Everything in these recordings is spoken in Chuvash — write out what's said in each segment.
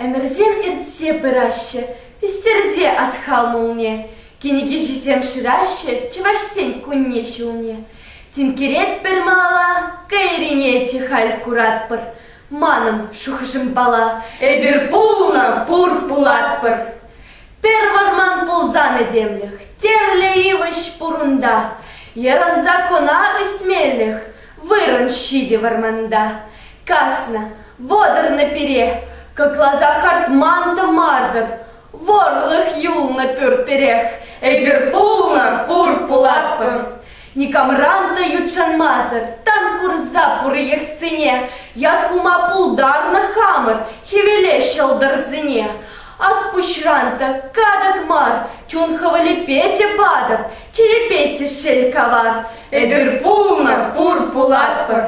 Ӗмӗрсем иртсе пыраҫҫӗ, пистерсе асхал мулне. Кӗнекеҫӗсем шыраҫҫӗ чӑвашсен кунне-ҫулне. Тинкеретпӗр малала, кайрине те халь куратпӑр. Манӑн шухӑшӑм пала, эпир пулнӑ пур пулатпӑр. Пӗр вӑрман пулсан этемлӗх, тӗрлӗ йывӑҫ пур унта. Йӑрӑнса кӑна ӳсмелӗх, вырӑн ҫитӗ вӑрманта. Каснӑ, вӑтӑрнӑ пире, кӑкласа хартман тӑмартӑр. Вӑрлӑх юлнӑ пӳрт-пӗрех, эпир пулнӑ пур пулатпӑр. Никамран та ютшанмасӑр тан курса пур йӑхсене. Ят хума пултарнӑ хамӑр хӗвеле ҫӑлтӑрсене. Аспуҫран та катӑк мар, чун хӑвӑлӗпе те патӑк, черепе те шел кавар. Эпир пулнӑ, пур, пулатпӑр.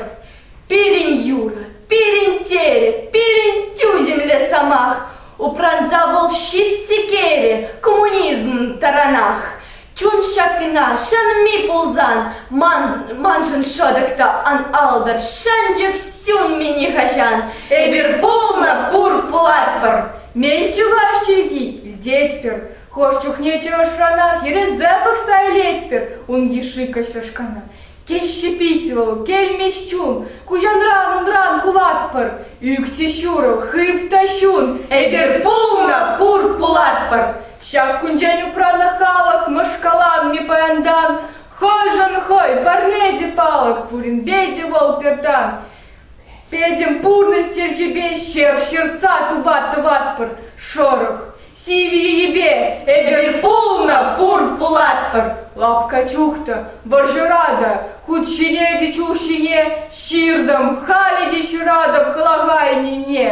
Пирӗн юрӑ, пирӗн терӗ, пирӗн тӳсӗмлӗ сӑмах. Упранса вӑл ҫит сикерӗ коммунизм таранах. Чун ҫакина ҫӗнми пулсан, ман, маншӑн шӑтӑк та ан алтӑр, шӗнчӗк сӳнми нихаҫан. Эпир пулнӑ пур пулатпӑр, мӗн чухаш чӳхи илтетпӗр. Хӑш чухне чӑрӑшранах йӗрӗнсе пӑхса илетпӗр ун йышши кӑҫрӑшкана. Теҫҫӗ пит вӑл, кӗлмеҫ чун, Куҫанран-унран кулатпӑр, Ӳкчӗ ҫурӑл, хып та ҫун, Эпир пулнӑ, пур пулатпӑр. Ҫак кунчен упранӑ халӑх Мӑшкалан, ми паянтан, Хӑшӗн хӑй, парне те палӑк, Пуринпе те вӑл пертан. Пӗтӗм пурнӑҫ черчӗпе ҫер ҫыртса тупат-тӑватпӑр шӑрӑх. Сивӗ йӗпе эпир пулнӑ пур пулатпӑр. Лапка чухтӑ, вӑрҫӑра та, хут ҫине те чул ҫине ҫыртӑм. Халӗ те ҫыратӑп хӑлахайнине.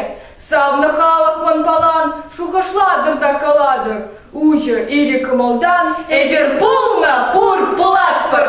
Савнӑ халӑхлӑн палан шухӑшлатӑр та калатӑр. Уҫӑ iri кӑмӑлтан эпир пулнӑ пур пулатпӑр.